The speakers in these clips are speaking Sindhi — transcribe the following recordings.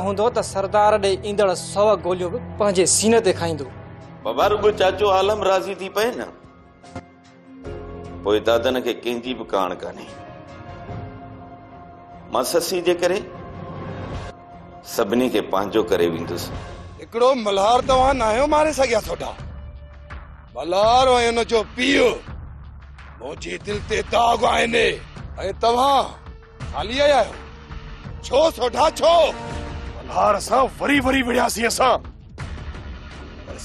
هوندو ته سردار ڏي ايندڙ سو گوليون به پنهنجي سيني تي کائيندو بابا رڳو چاچو عالم راضي ٿي پئي نه پوء دادن کي ڪنهن جي به ڪاڻ ڪانهي مان سسي جي ڪري سڀني کي پنهنجو ڪري ويندس هڪڙو ملهار توهان ناهيو ماري سگهيا ٿوڏا ملهار ۽ ان جو پيء منهنجي دل تي داغ آهن ۽ توهان خالي آيا آهيو ڇو سوڍا ڇو ملهار سان وري وري وڙهياسين اسان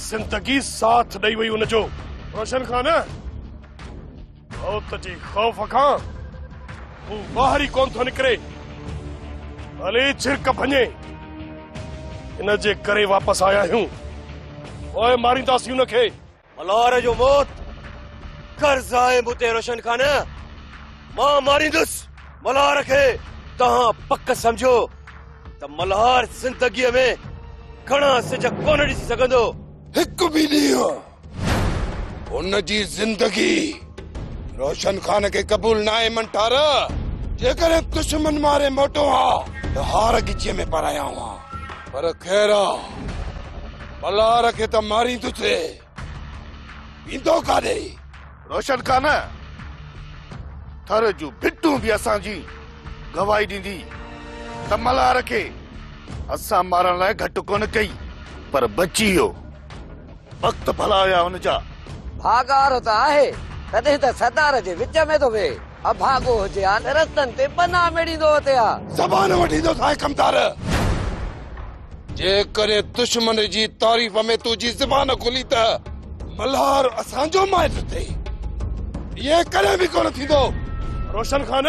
زندگي ساٿ ڏئي وئي ان جو روشن خان موت جي خوف کان هو ٻاهر ئي ڪونه ٿو نڪري ڀلي ڇرڪ ڀڃي ان جي ڪري واپس آيا آهيون پوء مارينداسين ان کي ملار جو موت قرض آهي مون تي روشن خان مان ماريندس ملار کي توهان پڪ سمجھو ته ملهار زندگيء ۾ گھڻا سج ڪونه ڏسي سگھندو هڪ به ڏينهن هن جي زندگي روشن خان کي قبول ناهي منٺار جيڪڏهن دشمن ماري موٽو ها ته هار ڳچيء ۾ پرايا هئا پر خير آ پلار کي ته ماريندو ٿي ويندو ڪاڏي روشن خان، ٿر جون ڀٽون به اسان جي گواهي ڏيندي ته ملهار کي اسان مارڻ لاء گهٽ ڪونه ڪئي پر بچي ويو. وقت ڀلا هيا ان جا. ڀاڳار ته آهي، تڏهن ته سردار جي وچ ۾ ٿو ويهي. اڀاڳو هجي ها ته رستن تي بنا ميڙيندو هتي ها. زبان وٺيندو ساهي ڪمدار. جيڪڏهن دشمن جي تعريف ۾ تنهنجي زبان کلي ته ملهار اسان جو مائٽ اٿئي. ائين ڪڏهن به ڪونه ٿيندو. روشن خان،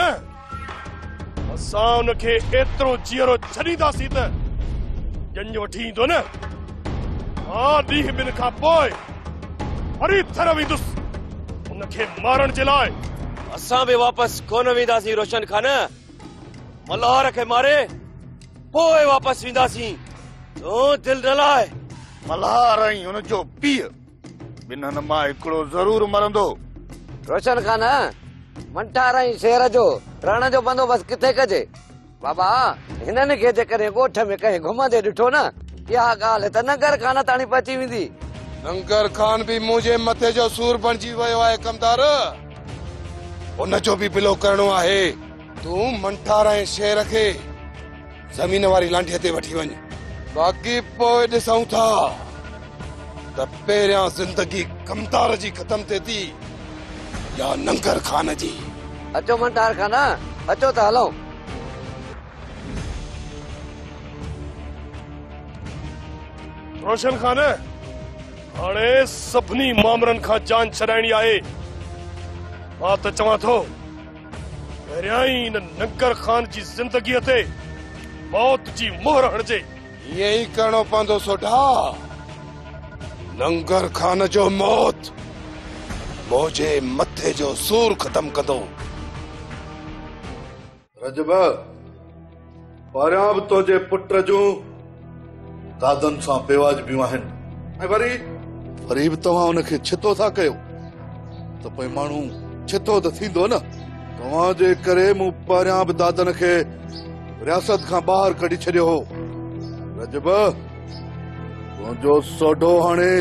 اسان ان کي ايترو جيئرو ڇڏينداسين ته ڄڃ وٺي ايندو نه. ها ڏينهن ٻن کان پوء وري ٿر ويندس ان کي مارڻ جي لاء. اسان به واپس ڪونه وينداسين روشن خان. ملهار کي ماري پوء واپس وينداسين تون دل نه لاء ملهار ۽ هن جو پيء ٻنهن مان هڪڙو ضرور مرندو روشن خان منٺار ۽ شير جو رهڻ جو بندوبست ڪٿي ڪجي بابا هنن کي جيڪڏهن ڳوٺ ۾ ڪنهن گهمندي ڏٺو نه اها ڳالهه ته ننگر خان تاڻي پهچي ويندي ننگر خان به منهنجي مٿي جو سور بڻجي ويو آهي ڪمدار ان جو به بلو ڪرڻو آهي. تون منٺار ۽ شير کي زمين واري لانڍيء تي وٺي وڃ. باقي پوء ڏسون ٿا ته پهريان زندگي ڪمتار جي ختم ٿئي ٿي يا ننگر خان جي. اچو منٺار خان، اچو ته هلون. روشن خان! هاڻي سڀني مامرن کان جان ڇڏائڻي آهي. مان ته چوان ٿو پهريائين ان ننگر خان جي زندگيء تي موت جي مهر هڻجي. ائين ئي ڪرڻو پوندو سوڍا. ننگر خان جو موت منهنجي مٿي جو سور ختم ڪندو. رجب! پهريان به تنهنجي پٽ جون دادن سان بيواجبيون آهن ۽ وري وري به توهان ان کي ڇتو ٿا ڪيو ته پوء ماڻهو ڇتو ته ٿيندو نه. توهان جي ڪري مون پهريان به دادن کي رياست کان ٻاهر ڪڍي ڇڏيو هو. رجب! تنهنجو سوڍو هاڻي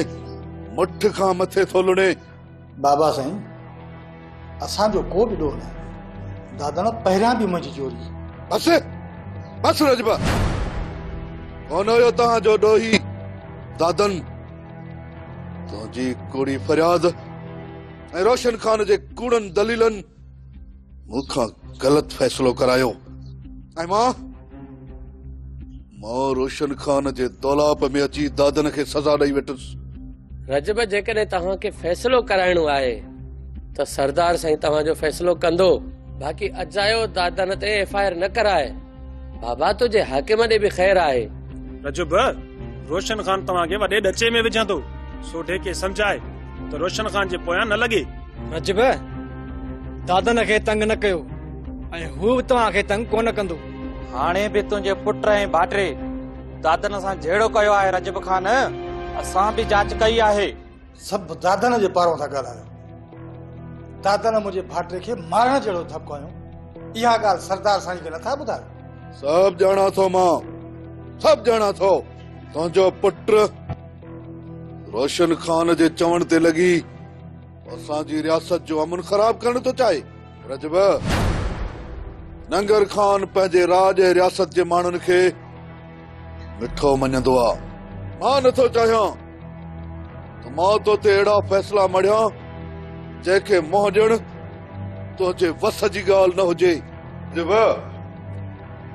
مٺ کان مٿي ٿو لڻي. بابا سائين اسان جو ڪو به ڏوهه ناهي دادڻ پهريان به منهنجي چوري. بس بس رجبا ڪونه هيو توهان جو ڏوهي دادن تنهنجي ڪوڙي فرياد ۽ روشن خان جي ڪوڙن دليلن. مون کان غلط فيصلو ڪرايو ۽ مان مان روشن خان جي دولاپ ۾ اچي دادن کي سزا ڏئي ويٺس. رجب جيڪڏهن توهان کي فيصلو ڪرائڻو آهي ته سردار سائين توهان جو فيصلو ڪندو. باقي اجايو دادن تي ايف آء آر نه ڪرائي. بابا تنهنجي حاڪم ڏي به خير آهي. رجب، روشن خان توهان کي وڏي ڏچي ۾ وجهان ٿو، سوڍي کي سمجهاء ته روشن خان جي پويان نه لڳي. رجب، دادن کي تنگ نه ڪيو ۽ هو به توهان کي تنگ ڪونه ڪندو. هاڻي به تنهنجي پٽ ۽ ڀائٽي دادن سان جهيڙو ڪيو آهي رجب خان، اسان به جاچ ڪئي آهي. سڀ دادن جي پارو ٿا ڳالهايو. دادن منهنجي ڀاٽي کي مارڻ جهڙو ڌڪ هنيو. اها ڳالهه سردار سائين کي نٿا ٻڌايو. سڀ ڄاڻان ٿو مان. سڀ ڄاڻان ٿو. تنهنجو پٽ روشن خان جي چوڻ تي لڳي اسان جي رياست جو امن خراب ڪرڻ ٿو چاهي. رجب، ننگر خان پنهنجي راڄ ۽ رياست جي ماڻهن کي مٺو مڃندو آ. مان نه ٿو چاهيان ته مان تو تي اهڙا فيصلا مڙهيان جنهن کي منهن ڏيڻ تنهنجي وس جي ڳالهه نه هجي. جيب،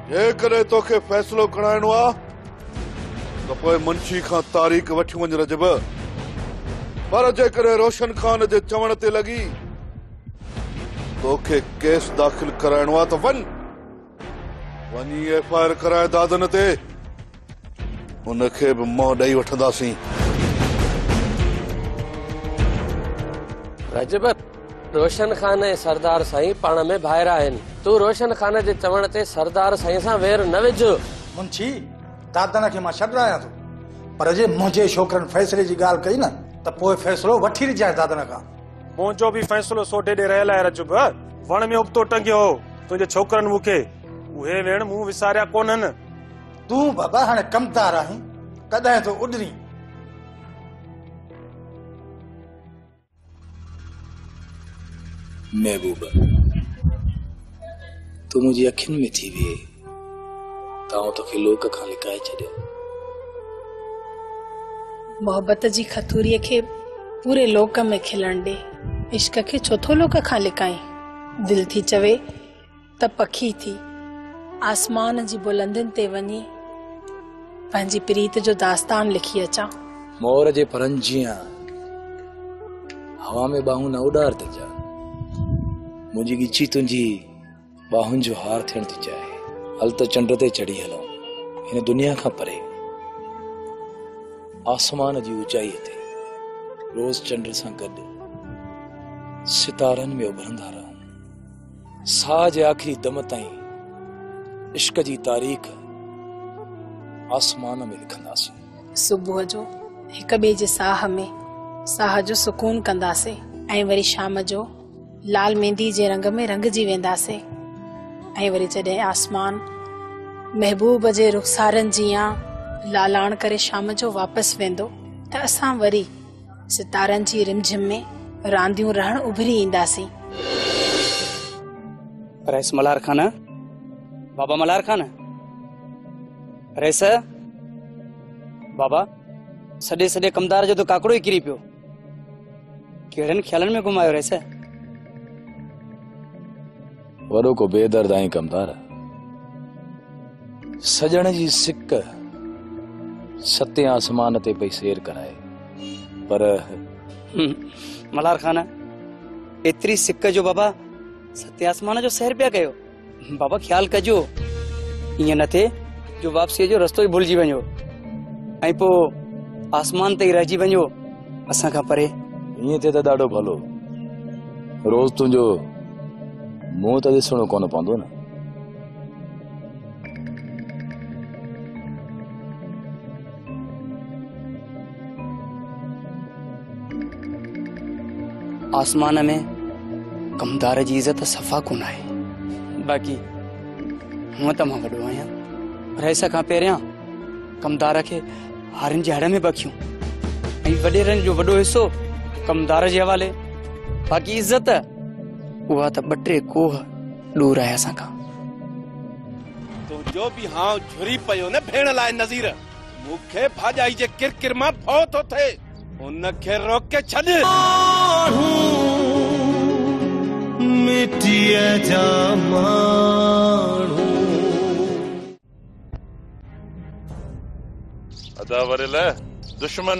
جيڪڏهن تو کي فيصلو ڪڙائڻو آ ته پوء منشي کان تاريخ وٺي وڃ رجب. پر جيڪڏهن روشن خان جي چوڻ تي لڳي تو کي ڪيس داخل ڪرائڻو آ ته وڃ. وڃي ايف آء آر ڪرائي دادن تي ان کي به منهن ڏئي وٺنداسين. رجب، روشن خان ۽ سردار سائين پاڻ ۾ ڀائر آهن. تون روشن خان جي چوڻ تي سردار سائين سان وير نه وجهه. منشي، دادن کي مان ڇڏ رهايان ٿو، پر جي منهنجي ڇوڪرن فيصلي جي ڳالهه ڪئي نه ته پوء فيصلو وٺي رجانء دادن کان. منهنجو به فيصلو سوڍي ڏي رهيل آهي رجب. وڻ ۾ ابتو ٽنگيو هو تنهنجي ڇوڪرن مون کي اهي ويڻ مون وساريا ڪونهن. تون بابا هاڻي ڪمتار آهين ڪڏهن ٿو اڏرين. محبوبه تون منهنجي اکين ۾ ٿي ويهه. تائون توکي لوڪ کان لڪائي ڇڏيم. محبت جي کٿوريء کي پوري لوڪ ۾ کلڻ ڏي. عشق کي ڇو ٿو لوڪ کان لڪائين؟ دل ٿي چوي ته پکي ٿي آسمان جي بلندين تي وڃي پنهنجي پريت جو داستان لکي اچان. مور جي پرن جيان هوا ۾ ٻانهون نه اڏار تنهنجا. منهنجي ڳچي تنهنجي ٻانهن جو هار ٿيڻ ٿي چاهي هل ته چنڊ تي چڙهي هلون هن دنيا کان پري آسمان جي اوچائي تي روز چنڊ سان گڏ ستارن ۾ اڀرندا رهون ساهه جي آخري دم تائين عشق جي تاريخ آسمان ۾ لکنداسين صبح جو هڪ ٻئي جي ساهه ۾ ساهه جو سڪون ڪنداسين ۽ وري شام جو لال ميندي جي رنگ ۾ رنگجي وينداسين ۽ وري جڏهن آسمان محبوب جي رخسارن جيان لالاڻ ڪري شام جو واپس ويندو ته اسان وري ستارن جي رمجھم ۾ رانديون رهڻ اڀري اينداسين. رئيس ملهار خان بابا ملهار خان رئيس بابا سڏي سڏي ڪمدار جو ته ڪاڪڙو ئي ڪري پيو ڪهڙن خيالن ۾ گم آيو رئيس؟ وڏو ڪو بي درد آهين ڪمدار سڄڻ جي سڪ ستين آسمان تي پئي سير ڪرائي پر ملار خان ايتري سڪ جو بابا ستين آسمان جو سير پيا ڪيو بابا خيال ڪجو ائين نه ٿئي جو واپسي جو رستو ئي ڀلجي وڃو ۽ پوء آسمان تي ئي رهجي وڃو اسان کان پري ائين ٿئي ته ڏاڍو ڀلو روز تنهنجو منهن ته ڏسڻو ڪونه پوندو نه آسمان ۾ ڪمدار جي عزت صفا ڪونه آهي باقي هونء ته مان وڏو آهيان رئيس کان پهريان ڪمدار کي هارن جي هڙ ۾ بکيون ۽ وڏيرن جو وڏو حصو ڪمدار جي حوالي باقي عزت اها ته ٻه ٽي کوهه ڏور آهي اسان کان تنهنجو به هانء جهري پيو نه ڀيڻ لاء نظير، مون کي ڀاڄائي جي ڪر ڪر مان ڀؤ ٿو ٿئي، ان کي روڪي ڇڏ. ماڻهو مٽيء جا ماڻهو. ادا وريل دشمن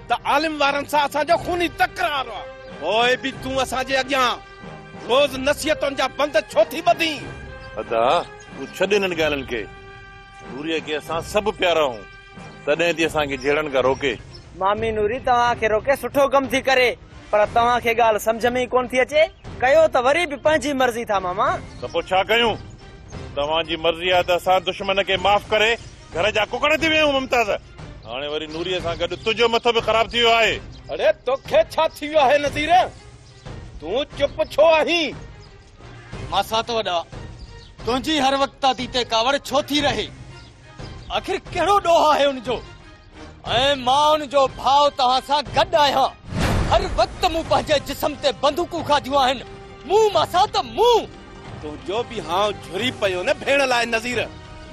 ته عالم وارن سان اسان جو خوني تڪرار آ. پوء به تون اسان جي اڳيان روز نصيحتن جا بند ڇو ٿي ٻڌين؟ ادا تون ڇڏ انهن ڳالهين کي. نوريء کي اسان سڀ پيارا آهون، تڏهن ٿي اسان کي جهيڙڻ کان روڪي. مامي نوري توهان کي روڪي سٺو ڪم ٿي ڪري، پر توهان کي ڳالهه سمجهه ۾ ئي ڪونه ٿي اچي، ڪيو ته وري به پنهنجي مرضي ٿا ماما. ته پوء ڇا ڪيون؟ توهان جي مرضي آهي ته اسان دشمن کي معاف ڪري گهر جا ڪڪڙ ٿي ويا آهيون ممتاز. هاڻي وري نوريء سان گڏ تنهنجو مٿو به خراب ٿي ويو آهي. اڙي توکي ڇا ٿي ويو آهي نذير؟ تون چپ ڇو آهين؟ ماسات وڏا، تنهنجي هر وقت دادي تي ڪاوڙ ڇو ٿي رهي؟ آخر ڪهڙو ڏوهه آهي ان جو؟ ۽ مان ان جو ڀاء توهان سان گڏ آهيان. هر وقت مون پنهنجي جسم تي بندوقون کاڌيون آهن. مون ماسات مون! تنهنجو به هانء جهري پيو نه ڀيڻ لاء نظير،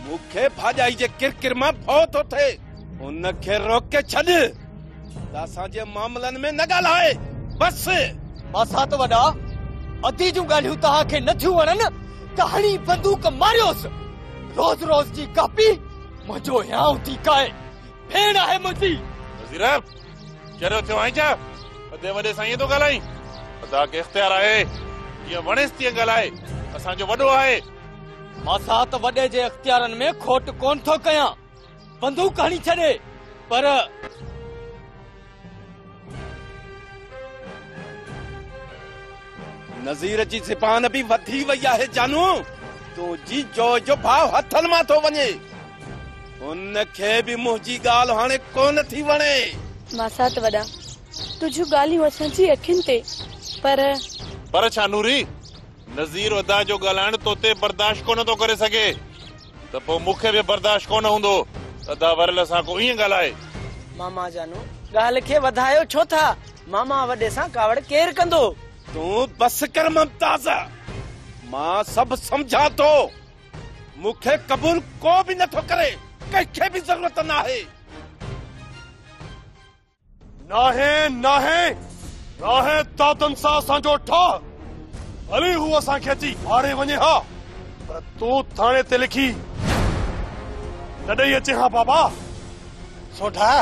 مون کي ڀاڄائي جي ڪر ڪر مان ڀؤ ٿو ٿئي، ان کي روڪي ڇڏ ته اسان جي معاملن ۾ نه ڳالهائي، بس! ماسات وڏا، ادي جون ڳالهيون توهان کي نه ٿيون وڻن ته هڻي بندوق ماريوس، روز روز جي ڪاپي منهنجو هيانء ٿي کائي، ڀيڻ آهي منهنجي. نظير! چريو ٿيو آهين ڇا؟ ادي وڏي سائينء ٿو ڳالهائين. ادا کي اختيار آهي، جيئن وڻيس تيئن ڳالهائي، اسان جو وڏو آهي. ماسات وڏي جي اختيارن ۾ کوٽ ڪونه ٿو ڪيان، بندوق هڻي ڇڏي، پر. نذير جي زبان به وڌي وئي آهي جانو، تنهنجي جوء جو ڀاء هٿن مان ٿو وڃي. هن کي به منهنجي ڳالهه هاڻي ڪونه ٿي وڻي. ماسات وڏا، تنهنجون ڳالهيون اسان جي اکين تي، پر. پر ڇا نوري، نذير ادا جو ڳالهائڻ توتي برداشت ڪونه ٿو ڪري سگهي. ته پوء مون کي به برداشت ڪونه هوندو ته ادا ورلي سان ڪو ائين ڳالهائي. ماما جانو ڳالهه کي وڌايو ڇو ٿا؟ ماما وڏي سان ڪاوڙ ڪير ڪندو؟ تون بس ڪر ممتاز، مان سڀ سمجهان ٿو. مون کي قبول ڪو به نٿو ڪري، ڪنهن کي به ضرورت ناهي. ناهي ناهي ناهي دادن سان اسان جو ٺاهه ڀلي هو اسان کي اچي ماري وڃي ها پر تون ٿاڻي تي لکي نه ڏئي اچي ها بابا سوڍا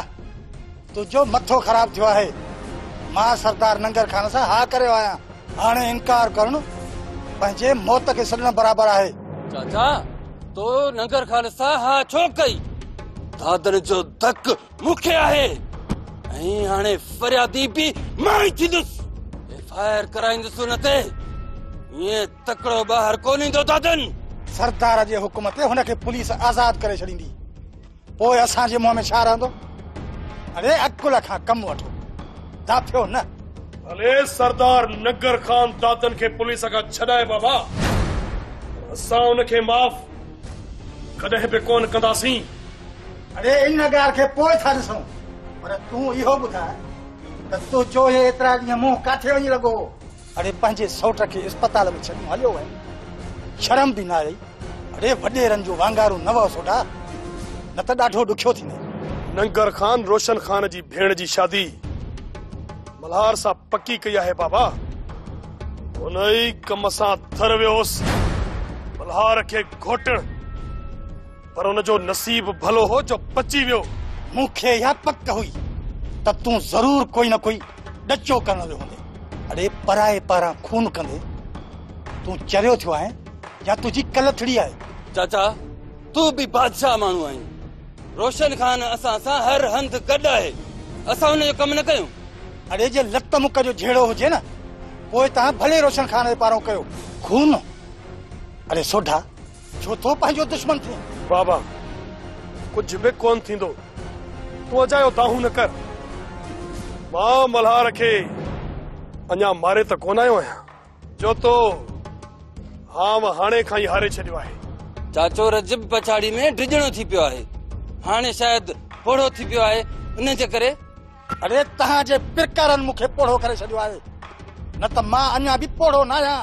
تنهنجو مٿو خراب ٿيو آهي مان سردار ننگر خان سان ها ڪريو آهيان هاڻي انڪار ڪرڻ پنهنجي موت کي سڏڻ برابر آهي چاچا تو ننگر خان سان ها ڇو ڪئي دادن جو دڪ مون کي آهي ۽ هاڻي فريادي به مان ئي ٿيندس ايف آء آر ڪرائيندس ان تي ائين تڪڙو ٻاهر ڪونه ايندو دادن سردار جي حڪم تي هن کي پوليس آزاد ڪري ڇڏيندي پوء اسان جي منهن ۾ ڇا رهندو اڙي عقل کان ڪم وٺو داٿيو نه هلي سردار نگر خان دادن کي پوليس کان ڇڏائي بابا اسان ان کي معاف ڪڏهن به ڪونه ڪنداسين اڙي ان ڳالهه کي پوء ٿا ڏسون پر تون اهو ٻڌاء ته تنهنجو هي ايترا ڏينهن منهن ڪاٿي وڃي لڳو هو؟ اڙي پنهنجي سئوٽ کي اسپتال ۾ ڇڏي مون هليو ويم. شرم به نه آئي. اڙي وڏيرن جون وانگارون نه وهه سوڍا. نه ته ڏاڍو ڏکيو ٿيندين. ننگر خان روشن خان جي ڀيڻ جي شادي ملهار سان پڪي ڪئي آهي بابا. ان ئي ڪم سان ٿر ويو هوس. ملهار کي گهوٽڻ. پر ان جو نصيب ڀلو هو جو بچي ويو. مون کي اها پڪ هئي ته تون ضرور ڪوئي نه ڪوئي ڏچو ڪرڻ ويو هوندين. اڙي پرائي پاران خون ڪندي تون چريو ٿيو آهين يا تنهنجي ڪلٿڙي آهي. چاچا تون به بادشاهه ماڻهو آهين. روشن خان اسان سان هر هنڌ گڏ آهي. اسان ان جو ڪم نه ڪيون. اڙي جي لت مک جو جهيڙو هجي نه پوء توهان ڀلي روشن خان جي پارو ڪيو. خون؟ اڙي سوڍا! ڇو ٿو پنهنجو دشمن ٿئين؟ بابا، ڪجهه به ڪونه ٿيندو. تون اجايو دانهون نه ڪر. مان ملهار کي اڃا ماري ته ڪونه آيو آهيان. جوتو، آئون هاڻي کان ئي هاري ڇڏيو آهي. چاچو رجب پڇاڙي ۾ ڊڄڻو ٿي پيو آهي. هاڻي شايد پوڙهو ٿي پيو آهي، ان جي ڪري. اڙي توهان جي پرڪارن مون کي پوڙهو ڪري ڇڏيو آهي. نه ته مان اڃا به پوڙهو نه آهيان.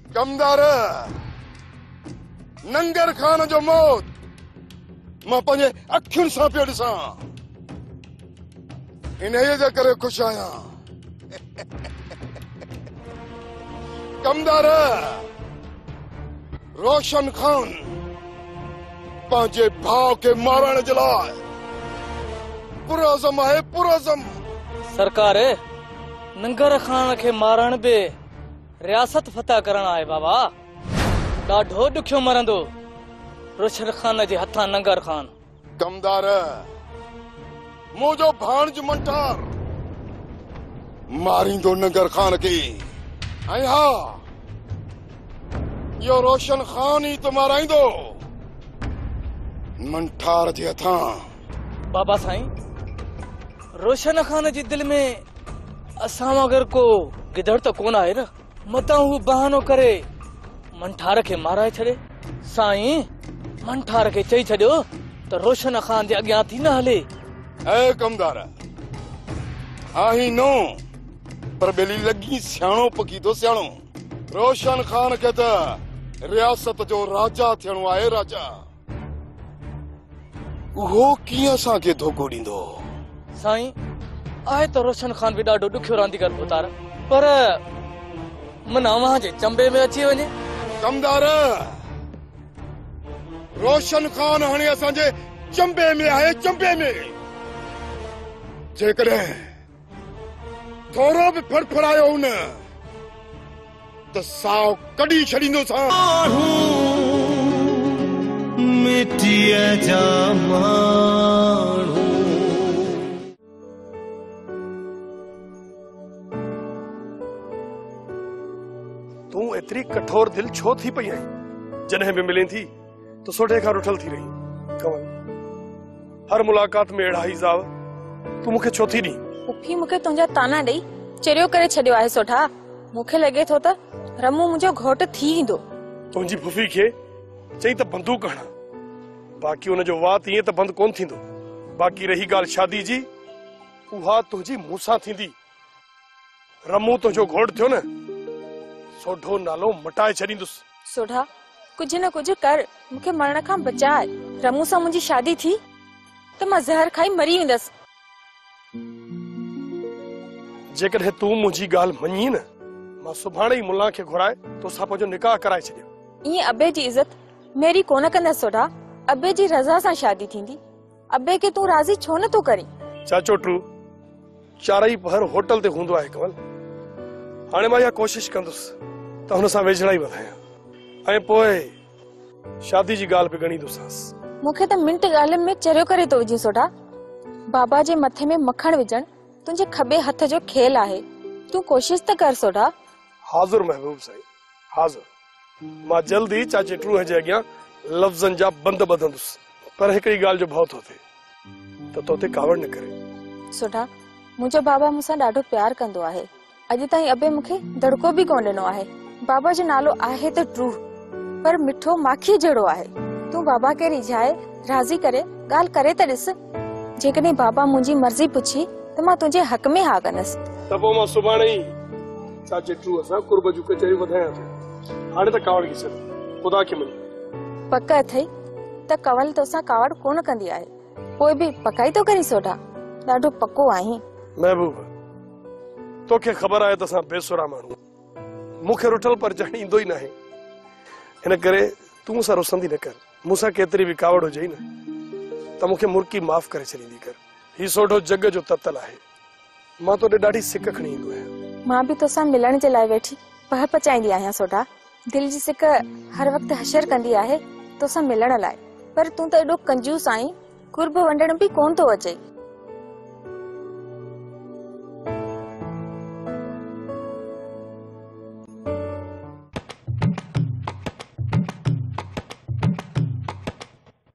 ڪمدار ننگر خان جو موت مان پنهنجي اکين سان پيو ڏسان انهيء جي ڪري خوش آهيان ڪمدار روشن خان پنهنجي ڀاء کي مارڻ جي لاء پرعزم آهي پرعزم سرڪار ننگر خان کي مارڻ به رياست فتح ڪرڻ آهي بابا. ڏاڍو ڏکيو مرندو روشن خان جي هٿان ننگر خان. ڪمدار! منهنجو ڀاڻج منٽار ماريندو ننگر خان کي ۽ ها اهو روشن خان ئي ته مارائيندو منٽار جي هٿان. بابا سائين روشن خان جي دل ۾ اسان وانگر ڪو گدڙ ته ڪون آهي نه متان هو بهانو ڪري منٺار کي مارائي ڇڏي سائين منٺار کي چئي ڇڏيو ته روشن خان جي اڳيان ٿي نه هلي اي ڪمدار آهي نو پر ٻيلي لڳي سياڻو پڪي ٿو سياڻو روشن خان کي ته رياست جو راجا ٿيڻو آهي راجا اهو ڪيئن اسان کي ڌوڪو ڏيندو؟ سائين، آهي ته روشن خان به ڏاڍو ڏکيو رانديگر ڀوتار، پر من اوهان جي چنبي ۾ اچي وڃي. چمدار، روشن خان هاڻي اسان جي چنبي ۾ آهي، چنبي ۾! جيڪڏهن ٿورو به ڦڙڦڙايو نه ته ساهه ڪڍي ڇڏيندوسان. آهون مٽيء جا ماڻهو. تون ايتري ڪٺور دل ڇو ٿي پئي آهين؟ جڏهن به ملين ٿي. تو سوڍي کان رٺل ٿي رهي ڪنول هر ملاقات ۾ اهڙا حيزاء تون مونکي ڇو ٿي ڏين پڦي مونکي تنهنجا طعنا ڏئي چريو ڪري ڇڏيو آهي سوڍا مونکي لڳي ٿو ته رمون منهنجو گهوٽ ٿي ايندو تنهنجي پڦي کي چئي ته بندوق هڻان باقي ان جو وات ائين ته بند ڪون ٿيندو باقي رهي ڳالهه شادي جي اها تنهنجي مون سان ٿيندي رمون تنهنجو گهوٽ ٿيو نه سوڍو نالو مٽائي ڇڏيندس. سوڍا ڪجهه نه ڪجهه ڪر مون کي مرڻ کان بچاء. رمون سان منهنجي شادي ٿي ته مان زهر کائي مري ويندس. جيڪڏهن تون منهنجي ڳالهه مڃين نه مان سڀاڻي ئي ملان کي گهرائي توسان پنهنجو نڪاح ڪرائي ڇڏيان. ائين ابي جي عزت ميري ڪونه ڪندس سوڍا ابي جي رضا سان شادي ٿيندي ابي کي تون راضي ڇو نه ٿو ڪرين. چاچو ٽو چارئي پهر هوٽل تي هوندو آهي ڪمل. هاڻي مان اها ڪوشش ڪندس ته هن سان ويجهڙائي وڌايان ۽ پوء شادي جي ڳالهه به ڳڻيندوسانس. مون کي ته منٽ ڳالهين ۾ چريو ڪري ٿو وجهين سوڍا. بابا جي مٿي ۾ مکڻ وجهڻ تنهنجي کٻي هٿ جو کيل آهي. تون ڪوشش ته ڪر سوڍا. حاضر محبوب سائين حاضر. مان جلد ئي چاچي ٽروهي جي اڳيان لفظن جا بند ٻڌندس پر هڪڙي ڳالهه جو ڀؤ ٿو ٿئي ته تو تي ڪاوڙ نه ڪري. سوڍا، منهنجو بابا مون سان ڏاڍو پيار ڪندو آهي. اڄ تائين ابي مون کي دڙڪو به ڪونه ڏنو آهي. بابا جو نالو آهي ته ٽروهه پر مٺو ماکيء جهڙو آهي. تون بابا کي ريجهائي، راضي ڪري، ڳالهه ڪري ته ڏس. جيڪڏهن بابا منهنجي مرضي پڇي ته مان تنهنجي حق ۾ ها ڪندس. ته پوء مان سڀاڻي ئي. ڇا جيٽرو اسان قرب جون ڪچهريون وڌايان ٿو هاڻي ته ڪاوڙ کي ڇڏ خدا کي مڃ. پڪ اٿئي ته ڪنول توسان ڪاوڙ ڪونه ڪندي آهي. پوء به پڪائي ٿو ڪرين سوڍا. ڏاڍو پڪو آهين. محبوب توکي خبر آهي ته اسان بي سرا ماڻهو آهيون. مون کي رٺل پرچائڻ ايندو ئي ناهي. ان ڪري تون مون سان رسندي نه ڪر. مون سان ڪيتري به ڪاوڙ هجئي نه ته مون کي مرڪي معاف ڪري ڇڏيندي ڪر. هي سوڍو جڳ جو تتل آهي. مان توڏي ڏاڍي سڪ کڻي ايندو آهيان. مان به توسان ملڻ جي لاء ويٺي پهه پچائيندي آهيان سوڍا. دل جي سڪ هر وقت حشر ڪندي آهي توسان ملڻ لاء پر تون ته ايڏو ڪنجوس آهين قرب ونڊڻ به ڪونه ٿو اچئي.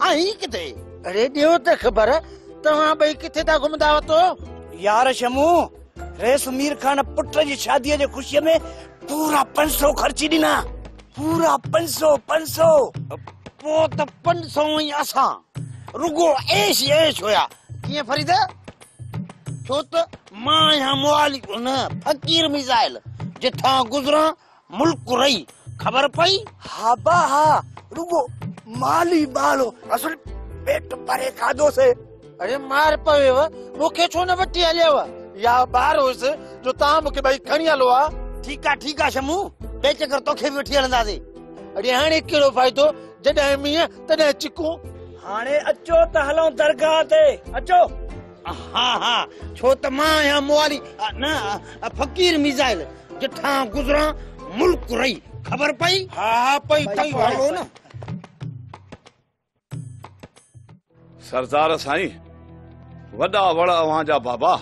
آ هي ڪٿي؟ اڙي ڏيو ته خبر توهان ٻئي ڪٿي ٿا گهمندا وتو؟ يار شمو ريس مير خان پٽ جي شادي جي خوشي ۾ پورا پنج سو خرچي ڏنا پورا پنج سو پنج سو پو ته پنج سو ۽ اسان رڳو عيش ئي عيش هيا ڪيئن فريد ڇو ته مان آهيان موالي نه فقير ميزائل جتان گذران ملڪ رئي خبر پئي. ها با ها رڳو مال ئي مال هو اصل پيٽ ڀري کاڌو سي. اڙي مار پويو مون کي ڇو نه وٺي هليو. يا ٻار هوس جو توهان مون کي ٻئي کڻي هلو ها. ٺيڪ آ ٺيڪ آ شمو ٻئي چڪر توکي به وٺي هلنداسي. اڙي هاڻي ڪهڙو فائدو جڏهن مينهن تڏهن چڪون. هاڻي اچو ته هلون درگاهه تي اچو. ها ها ڇو ته مان آهيان موالي نه فقير ميزائل جٺان گذران ملڪ رهي خبر پئي ها ها پئي پئي هلو نه سردار سائين وڏا وڙ اوهان جا بابا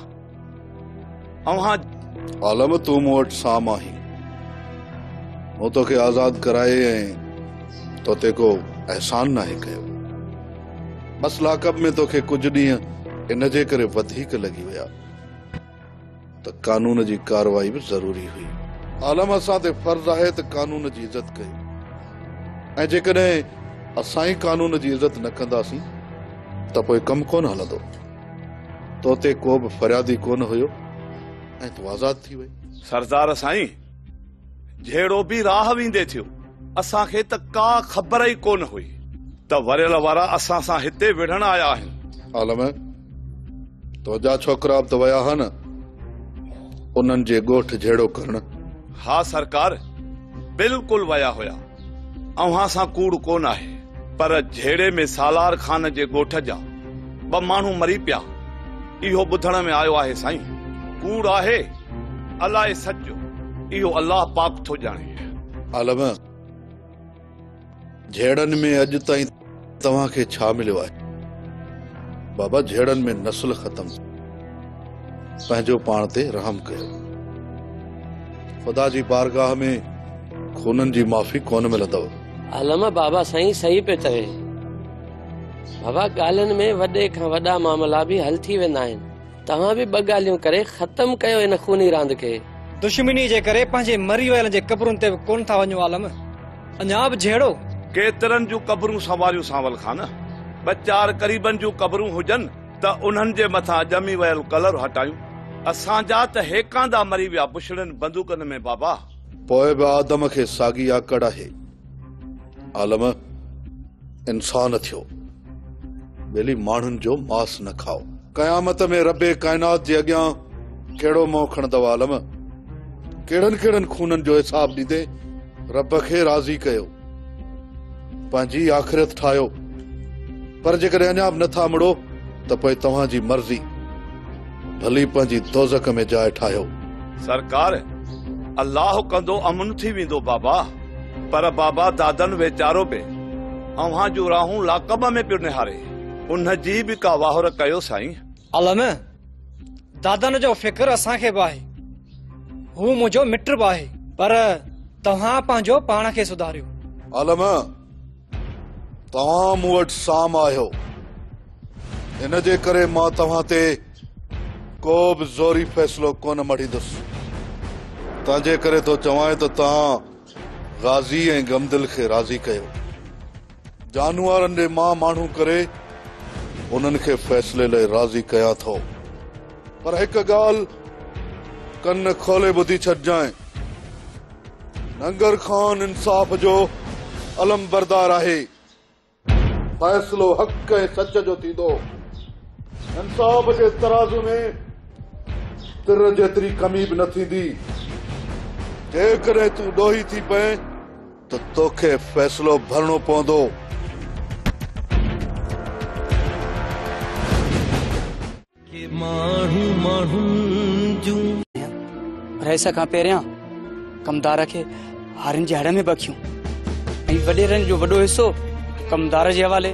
اوهان. عالم تون مون وٽ سام آهين. مون توکي آزاد ڪرائي ۽ تو تي ڪو احسان ناهي ڪيو. بس لاڪ اپ ۾ توکي ڪجهه ڏينهن ان جي ڪري وڌيڪ لڳي ويا ته قانون جي ڪارروائي به ضروري هئي. عالم اسان تي فرض آهي ته قانون جي عزت ڪيون ۽ جيڪڏهن اسان ئي قانون جي عزت نه ڪنداسين ته پوء ڪم ڪونه هلندو. تو تي ڪو به فريادي ڪونه هيو ۽ تون آزاد ٿي وئي. سردار سائين جهيڙو به راهه ويندي ٿيو، اسان کي ته ڪا خبر ئي ڪونه هئي ته وريل وارا اسان سان هتي وڙهڻ آيا آهن. عالم تنهنجا ڇوڪرا به ته ويا ها نه انهن جي ڳوٺ جهيڙو ڪرڻ؟ ها سرڪار بلڪل ويا هيا. اوهان سان ڪوڙ ڪونه آهي پر جهيڙي ۾ سالار خان جي ڳوٺ جا ٻه ماڻهو مري پيا اهو ٻڌڻ ۾ آيو آهي سائين. ڪوڙ آهي الاء سچ جو اهو الله پاڪ ٿو ڄاڻي. عالم جهيڙن ۾ اڄ تائين. توهان کي ڇا مليو آهي بابا جهيڙن ۾ نسل ختم پنهنجو پاڻ تي رحم ڪيو خدا جي بارگاهه ۾ خونن جي معافي ڪونه ملندو عالم بابا سائين صحيح پيو چوي بابا ڳالهين ۾ وڏي کان وڏا معاملا به حل ٿي ويندا آهن توهان به ٻه ڳالهيون ڪري ختم ڪيو ان خوني راند کي. دشمني جي ڪري پنهنجي مري ويلن جي قبرن تي به ڪونه ٿا وڃون عالم. اڃا به جهيڙو. ڪيترن جون قبرون سنواريون سانول خان! ٻه چار قريبن جون قبرون هجن ته انهن جي مٿان ڄمي ويل ڪلر هٽايون. اسان جا ته هيڪاندا مري ويا بڇڙين بندوقن ۾ بابا! پوء به آدم کي ساڳي آڪڙ آهي. عالم! انسان ٿيو. ٻيلي ماڻهن جو ماس نه کائو. قيامت ۾ رب ڪائنات جي اڳيان ڪهڙو منهن کڻندؤ عالم! ڪهڙن ڪهڙن خونن جو حساب ڏيندين؟ رب کي راضي ڪيو، پنهنجي آخرت ٺاهيو، پر جيڪڏهن اڃا به نٿا مڙو ته پوء توهان جي مرضي، ڀلي پنهنجي دوزخ ۾ جاء ٺاهيو. سرڪار، الله ڪندو امن ٿي ويندو بابا. پر بابا دادن ويچارو به اوهان جون راهون لاڪب ۾ پيو نهاري، ان جي به ڪا واهر ڪيو سائين. علم دادن جو فڪر اسان کي به آهي هو منهنجو مٽ به آهي پر توهان پنهنجو پاڻ کي سڌاريو علم توهان مون وٽ سام آهيو ان جي ڪري مان توهان تي ڪو به زوري فيصلو ڪونه مڙهيندس تنهنجي ڪري ٿو چوان ته توهان غازي ۽ غمدل کي راضي ڪيو جانورن جي مان ماڻهو ڪري انهن کي فيصلي لئي راضي ڪيان ٿو پر هڪ ڳالهه ڪن کولي ٻڌي ڇڏجانء ننگر خان انصاف جو علم بردار آهي فيصلو حق ۽ سچ جو ٿيندو انصاف جي ترازو ۾ تر جيتري ڪمي به نه ٿيندي جيڪڏهن تون ڏوهي ٿي پئين ته توکي فيصلو ڀرڻو پوندو. رئيس کان پهريان ڪمدار کي هارين جي هڙ ۾ بکيون ۽ وڏيرن جو وڏو حصو ڪمدار جي حوالي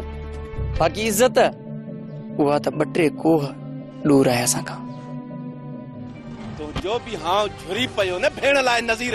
باقي عزت اها ته ٻه ٽي ڪوهه ڏور آهي اسان کان. تنهنجو به هانء جهري پيو نه ڀيڻ لاء نظير.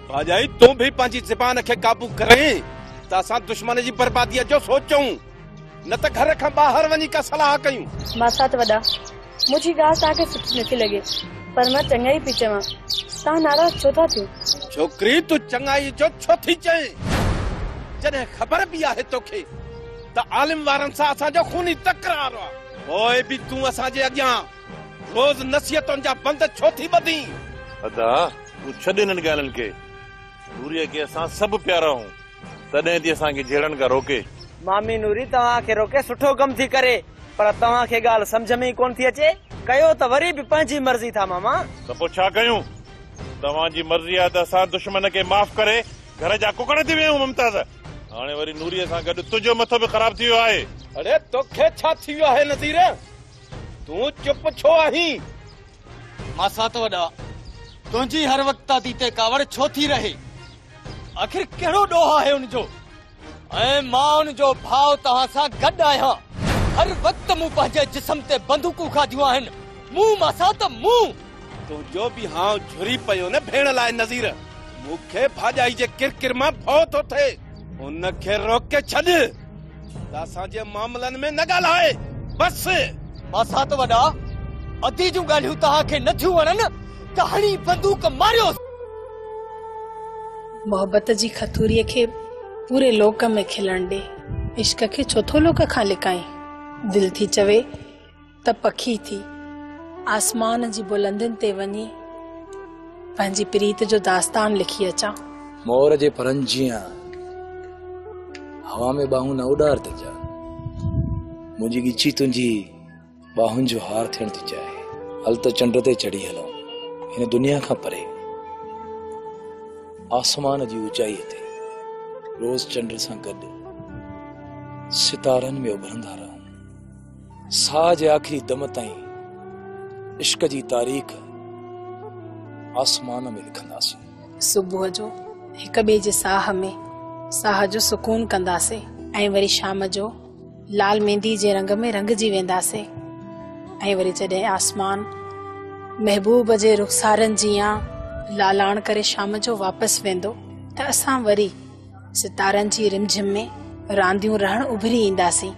ڀاڄائي تون به پنهنجي زبان کي قابو ڪرين ته اسان دشمن جي برباديء جو سوچون نه ته گهر کان ٻاهر وڃي ڪا صلاح ڪيون. ماسات وڏا، منهنجي ڳالهه توهان کي سٺي نٿي لڳي پر مان چڱائي پئي چوان، توهان ناراض ڇو ٿا ٿيو؟ ڇوڪري تون چڱائي جو ڇو ٿي چئين جڏهن خبر به آهي توکي ته عالم وارن سان اسان جو خوني تڪرار آهي. پوء به تون اسان جي اڳيان روز نصيحتن جا بند ڇو ٿي ٻڌين؟ ادا تون ڇڏ انهن ڳالهين کي. نوريء کي اسان سڀ پيارا آهيون، تڏهن ٿي اسان کي جهيڙڻ کان روڪي. مامي نوري توهان کي روڪي سٺو ڪم ٿي ڪري، پر توهان کي ڳالهه سمجهه ۾ ئي ڪونه ٿي اچي، ڪيو ته وري به پنهنجي مرضي ٿا ماما. ته پوء ڇا ڪيون؟ توهان جي مرضي آهي ته اسان دشمن کي معاف ڪري گهر جا ڪڪڙ ٿي ويون ممتاز. هاڻي وري نوريء سان گڏ تنهنجو مٿو به خراب ٿي ويو آهي. اڙي توکي ڇا ٿي ويو آهي نذير؟ تون چپ ڇو آهين؟ ماسات وڏا، تنهنجي هر وقت دادي تي ڪاوڙ ڇو ٿي رهي؟ آخر ڪهڙو ڏوهه آهي ان جو؟ ۽ مان ان جو ڀاء توهان سان گڏ آهيان. هر وقت مون پنهنجي جسم تي بندوقون کاڌيون آهن. مون ماسات، مون! تنهنجو به هانء جهري پيو نه ڀيڻ لاء نذير! مون کي ڀاڄائي جي ڪرڪر مان ڀؤ ٿو ٿئي. ان کي روڪي ڇڏ! ته اسان جي معاملن ۾ نه ڳالهاء بس. ماسات وڏا ادي جون ڳالهيون توهان کي نه ٿيون وڻن ته هڻي بندوق ماريوس. محبت جي کٿوري کي پوري لوڪ ۾ کلڻ ڏي. عشق کي ڇو ٿو لوڪ کان لڪائين. دل ٿي چوي. ته پکي ٿي آسمان جي بلندين تي وڃي پنهنجي پريت جو داستان لکي اچان. مور جي پرن جيان هوا ۾ ٻانهون نه اڏار ته جا منهنجي ڳچي تنهنجي ٻانهن جو هار ٿيڻ ٿي چاهي هل ته چنڊ تي چڙهي هلون هن دنيا کان پري آسمان جي اوچائي تي روز چنڊ سان گڏ ستارن ۾ اڀرندا رهون ساهه جي آخري دم تائين عشق جي تاريخ آسمان ۾ لکنداسين. صبح جو هڪ ٻئي جي ساهه ۾ ساهه جو سڪون ڪنداسين. ۽ وري شام جو لال ميندي جي رنگ ۾ رنگجي وينداسين. ۽ وري جڏهن آسمان محبوب جي رخسارن جيان لالاڻ ڪري شام جو واپس ويندو ته اسان وري ستارن جي رم جھم ۾ رانديون رھڻ اڀري اينداسين.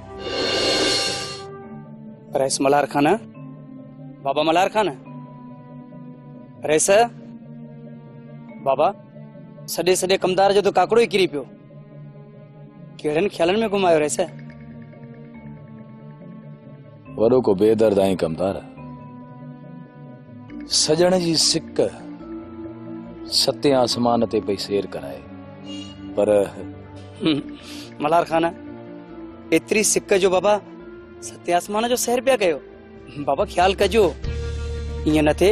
رئيس ملھار خان بابا ملھار خان رئيس بابا سڏي سڏي ڪمدار جو ته ڪاڪڙو ئي ڪري پيو ڪهڙن خيالن ۾ گم آيو رئيس وڏو ڪو بي درد آهين ڪمدار سڄڻ جي سڪ ستين آسمان تي پئي سير ڪرائي پر ملار خان ايتري سڪ جو بابا ستين آسمان جو سير پيا ڪيو بابا خيال ڪجو ائين نه ٿي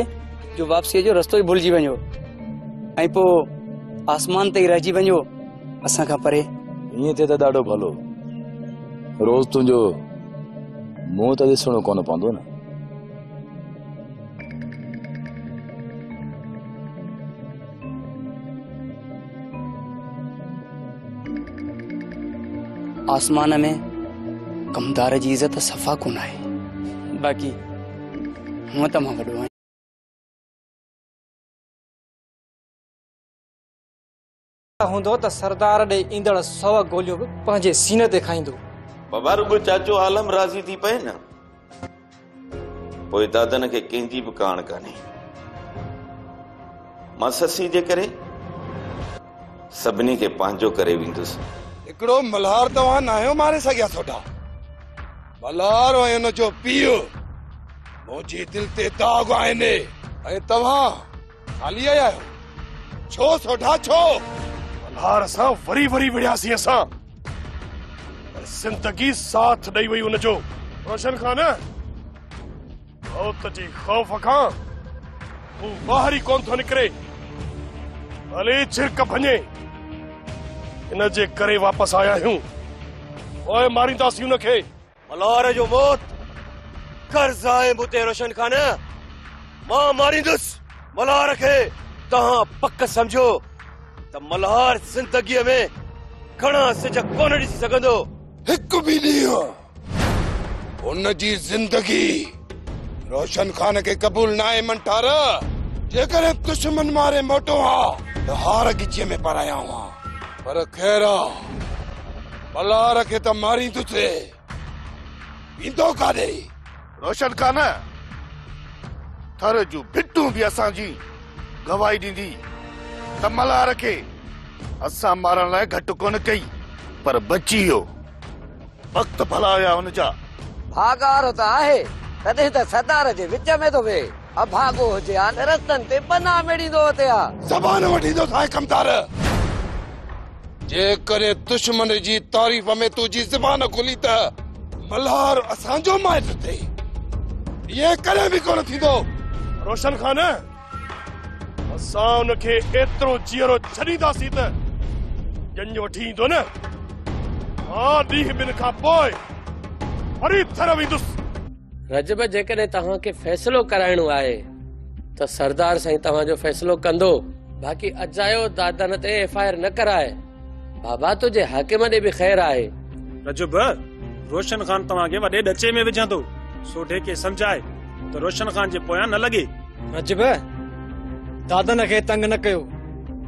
جو واپسي جو رستو ئي ڀلجي وڃو ۽ پوء آسمان تي رهجي وڃو اسان کان پري. ائين ٿئي ته ڏاڍو ڀلو. روز تنهنجو منهن ته ڏسڻو ڪونه پوندو نه. آسمان ۾ ڪمدار جي عزت صفا ڪونه آهي. باقي هونء ته مان وڏو آهيان. هوندو ته سردار ڏي ايندڙ سؤ گوليون به پنهنجي سيني تي کائيندو. بابا رڳو چاچو عالم راضي ٿي پئي نه پوء دادن کي ڪنهن جي به ڪاڻ ڪانهي. مان سسي جي ڪري سڀني کي پنهنجو ڪري ويندس. هڪڙو ملهار توهان ناهيو ماري سگهيا ٿوڏا ملهار ۽ ان جو پيء منهنجي دل تي داغ آهن ۽ توهان هلي آيا آهيو ڇو سوڍا ڇو؟ ملهار سان وري وري وڙهياسين اسان پر زندگي ساٿ ڏئي وئي ان جو روشن خان موت جي خوف کان هو ٻاهر ئي ڪون ٿو نڪري ڀلي جھرڪ ڀڃي ان جي ڪري واپس آيا آهيون پوء مارينداسين ان کي ملهار جو موت قرض آهي مون تي روشن خان مان ماريندس ملهار کي توهان پڪ سمجهو ته ملهار زندگيء ۾ گهڻا سج ڪونه ڏسي سگهندو هڪ به ڏينهن ان جي زندگي روشن خان کي قبول ناهي منٺار جيڪڏهن دشمن ماري موٽو ها ته هار ڳچيء ۾ پرايا هئا پر خير آ، بلار کي ته ماريندوسي، ويندو ڪاڏي؟ روشن خان، ٿر جون ڀٽون به اسان جي گواهي ڏيندي ته ملهار کي اسان مارڻ لاء گهٽ ڪونه ڪئي، پر بچي ويو. وقت ڀلا هيا ان جا. ڀاڳار ته آهي، تڏهن ته سردار جي وچ ۾ ٿو ويهي. اڀاڳو هجي ها ته رستن تي پناهه ميڙيندو اتي ها. زبان وٺيندو سائين ڪمتار. جيڪڏهن دشمن جي تعريف ۾ تنهنجي زبان کلي ته. ملهار اسان جو مائٽ اٿئي. ائين ڪڏهن به ڪونه ٿيندو. روشن خان، اسان ان کي ايترو جيئرو ڇڏينداسين ته ڄڃ وٺي ايندو نه. مان ڏينهن ٻن کان پوء وري ٿر ويندس. رجب جيڪڏهن توهان کي فيصلو ڪرائڻو آهي ته سردار سائين توهان جو فيصلو ڪندو باقي اجايو دادن تي ايف آء آر نه ڪراء بابا تنهنجي حاڪم ڏي به خير آهي. رجب روشن خان توهان کي وڏي ڏچي ۾ وجهندو سوڍي کي سمجهاء ته روشن خان جي پويان نه لڳي. رجب دادن کي تنگ نه ڪيو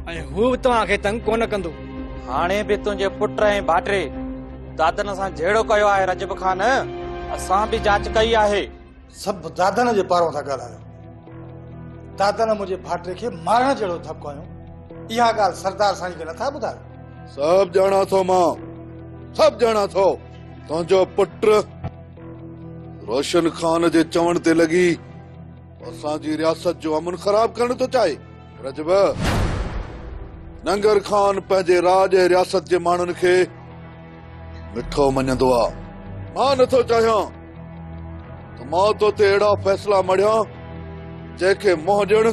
۽ هو به توهان کي تنگ ڪونه ڪندو. هاڻي به تنهنجي پٽ ۽ ڀاٽري دادن سان جهيڙو ڪيو آهي رجب خان اسان به جاچ ڪئي آهي سڀ دادن جي پارو ٿا ڳالهايو دادن منهنجي ڀاٽي کي مارڻ جهڙو ڌڪ هنيو اها ڳالهه سردار سائين کي نٿا ٻڌايو سڀ ڄاڻان ٿو مان سڀ ڄاڻان ٿو تنهنجو پٽ روشن خان جي چوڻ تي لڳي اسان جي رياست جو امن خراب ڪرڻ ٿو چاهي رجب، ننگر خان پنهنجي راڄ ۽ رياست جي ماڻهن کي مٺو مڃيندو آ. مان نه ٿو چاهيان ته مان تو تي اهڙا فيصلا مڙهيان جنهن کي منهن ڏيڻ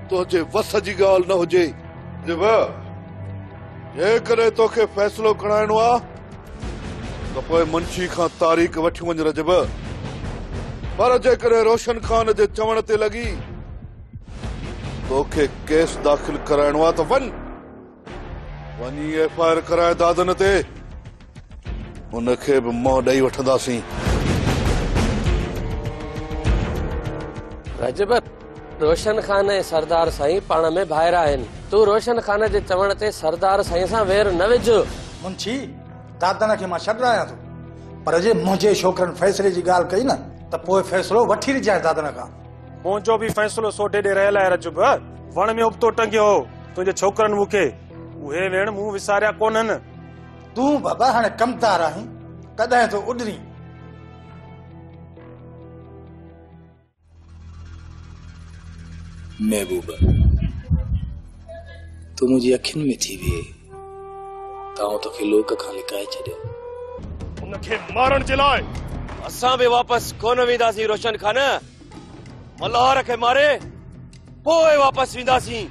تنهنجي وس جي ڳالهه نه هجي. رجب، جيڪڏهن توکي فيصلو ڪرائڻو آ ته پوء منشي کان تاريخ وٺي وڃ رجب. پر جيڪڏهن روشن خان جي چوڻ تي لڳي. توکي ڪيس داخل ڪرائڻو آهي ته وڃ وڃي ايف آء آر ڪرائي دادن تي ان کي به منهن ڏئي وٺنداسين رجبت روشن خان ۽ سردار سائين پاڻ ۾ ڀائر آهن تون روشن خان جي چوڻ تي سردار سائين سان وير نه وجھ منشي دادن کي مان ڇڏرايان ٿو پر جي منهنجي ڇوڪرن فيصلي جي ڳالهه ڪئي نه ته پوء فيصلو وٺي ڏجانس دادن کان منهنجو به فيصلو سوڍي ڏي رهيل آهي رجب وڻ ۾ ابتو ٽنگيو هو تنهنجي ڇوڪرن مون کي اهي ويڻ مون وساريا ڪونهن تون بابا هاڻي ڪمدار آهين ڪڏهن ٿو اڏرين محبوبه تون منهنجي اکين ۾ ٿي ويهي ته آئون توکي لوڪ کان لڪائي ڇڏيان. ان کي مارڻ جي لاء اسان به واپس ڪونه وينداسين روشن خان. ملهار کي ماري پوء واپس وينداسين.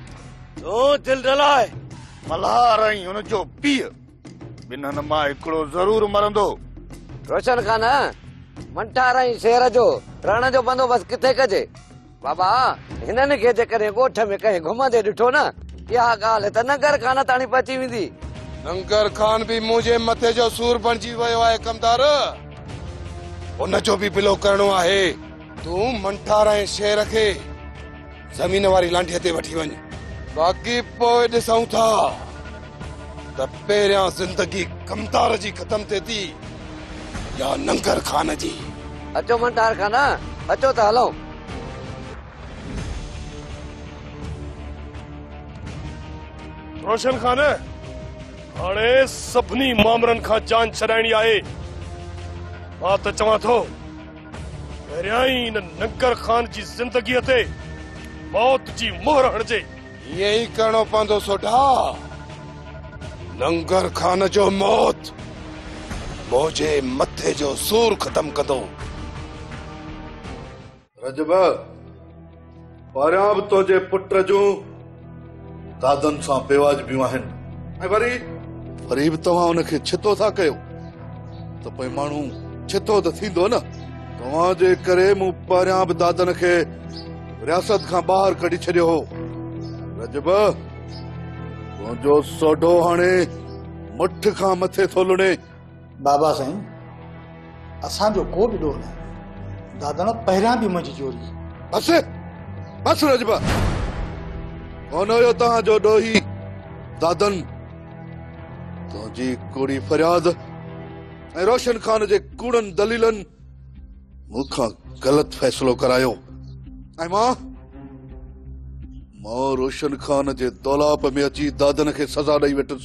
تون دل نه لاء. ملهار ۽ ان جو پيء ٻنهن مان هڪڙو ضرور مرندو. روشن خان، منٺار ۽ شير جو رهڻ جو بندوبست ڪٿي ڪجي؟ بابا، هنن کي جيڪڏهن ڳوٺ ۾ ڪنهن گهمندي ڏٺو نه، اها ڳالهه ته ننگر خان تاڻي پهچي ويندي. ننگر خان به منهنجي مٿي جو سور بڻجي ويو آهي ڪمدار. ان جو به بلو ڪرڻو آهي. تون منٺار ۽ شير کي. زمين واري لانڍي تي وٺي وڃ. باقي پوء ڏسون ٿا ته پهريان زندگي ڪمتار جي ختم ٿئي ٿي يا ننگر خان جي. اچو منٽار خان اچو ته هلون. روشن خان هاڻي سڀني مامرن کان جان ڇڏائڻي آهي. مان ته چوان ٿو. پهريائين هن ننگر خان جي زندگيء تي موت جي مهر هڻجي. ائين ئي ڪرڻو پوندو سوڍا. ننگر خان جو موت منهنجي مٿي جو سور ختم ڪندو. رجب، پهريان به تنهنجي پٽ جون دادن سان بيواجبيون آهن ۽ وري وري به توهان ان کي ڇتو ٿا ڪيو ته پوء ماڻهو ڇتو ته ٿيندو نه توهان جي ڪري مون پهريان به دادن کي رياست کان ٻاهر ڪڍي ڇڏيو هو رجب تنهنجو سوڍو هاڻي مٺ کان مٿي ٿو لڻي بابا سائين اسان جو ڪو به ڏوهه ناهي داداڻ پهريان به منهنجي چوري. بس بس رجبا ڪونه هيو توهان جو ڏوهي دادن تنهنجي ڪوڙي فرياد ۽ روشن خان جي ڪوڙن دليلن مون کان غلط فيصلو ڪرايو ۽ مان مان روشن خان جي دولاپ ۾ اچي دادن کي سزا ڏئي ويٺس.